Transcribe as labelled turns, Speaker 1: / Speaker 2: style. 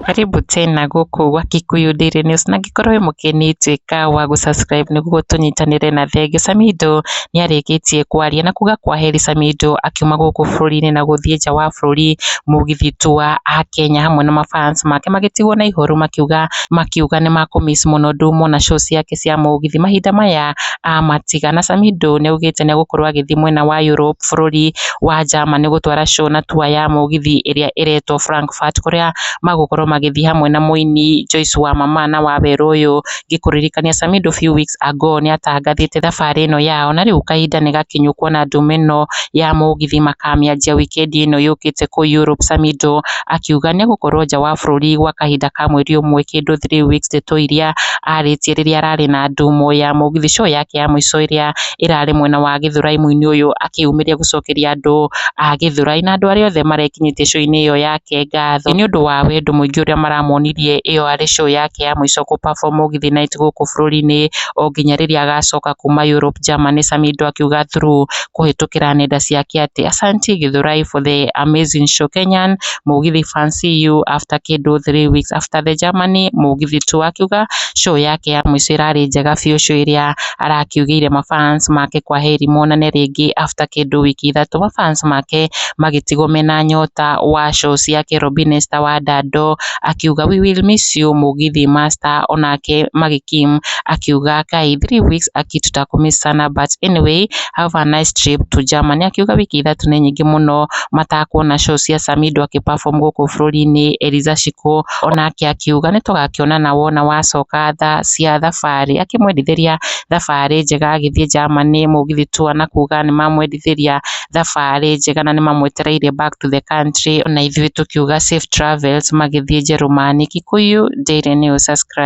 Speaker 1: Karibu tena gũkũ gwa Kikuyu Daily News na angĩkorwo wĩ mũgeni tuĩka wa gũ subscribe nĩguo tũnyitanĩre na thenge. Samido nĩ arĩkĩtie kwaria na kuga kwaheri Samido akiuma gũkũ bũrũri-inĩ na gũthiĩ nja wa bũrũri mũgithi tu wa Akenya hamwe na ma fans make magĩtigwo na ihoru makiuga makiuga nĩ makũ miss mũno ndumona show ciake cia mũgithi mahinda maya. Ahmad Tigana Samidoh nĩ augĩte nĩ egũkorwo agĩthiĩ mwena wa Europe bũrũri wa Germany gũtwara show na tour ya mũgithi ĩrĩa ĩretwo Frankfurt kũrĩa magũkorwo magĩthiĩ hamwe na mũini Joyce wa Mama na Wawerũ ũyũ. Ngĩkũririkania Samidoh few weeks ago nĩ atangathĩte thabarĩ ĩno yao na rĩu kahinda nĩ gakinyu kuona ndũma ĩno ya mũgithi makamĩanjia wikendi ĩno yũkĩte kũu Europe. Samidoh akiuga nĩegũkorwo nja wa bũrũri gwa kahinda ka mweri ũmwe kĩndũ three weeks, ndeto iria arĩtie rĩrĩa ararĩ na ndumo ya mũgithi show yake ya mũico ĩrĩa ĩrarĩ mwena wa Gĩthũrai mwĩinĩ ũyũ akĩyumĩria gũcokeria andũ a Gĩthũrai na andũ arĩa othe marekinyĩtie show-inĩ ĩyo yake ngatho nĩũndũ wa wendo mũingĩ ũrĩa maramonirie ĩyo arĩ show yake ya mũico gũ perform mũgithi night gũkũ bũrũri-inĩ onginya rĩrĩa agacoka kuma Europe, Germany, Samido akiuga through kũhĩtũkĩra nenda ciake atĩ Asante Gĩthũrai for the amazing show Kenyan, Mũgithi fans see you after kĩndũ three weeks after the Germany, Mũgithi tu akiuga show yake ya mũico ĩrarĩ njega biũ show ĩrĩa arakiugĩire ma fans make kwaheri monane rĩngĩ after kĩndũ wiki ithatũ ma fans make magĩtigwo mena nyota wa show ciake Robina Esther wa Ndando akiuga we will miss you Mũgithi master onake Maggie Kim akiuga Kai three weeks aki tutakũ miss sana but anyway have a nice trip to Germany, akiuga wiki ithatũ nĩ nyingĩ mũno matakuona show cia Samido akĩ perform gũkũ bũrũri-inĩ. Eliza Shiko onake akiuga nĩ tũgakĩonana wona wacoka tha cia thabarĩ, akĩmwendithĩria thabarĩ njega agĩthiĩ Germany. Mũgithi tour na kuga nĩ mamwendithĩria thabarĩ njega na nĩ mamwetereire back to the country, ona ithuĩ tũkiuga safe travels magĩthiĩ Njerũmani. Kikuyu Daily News, subscribe.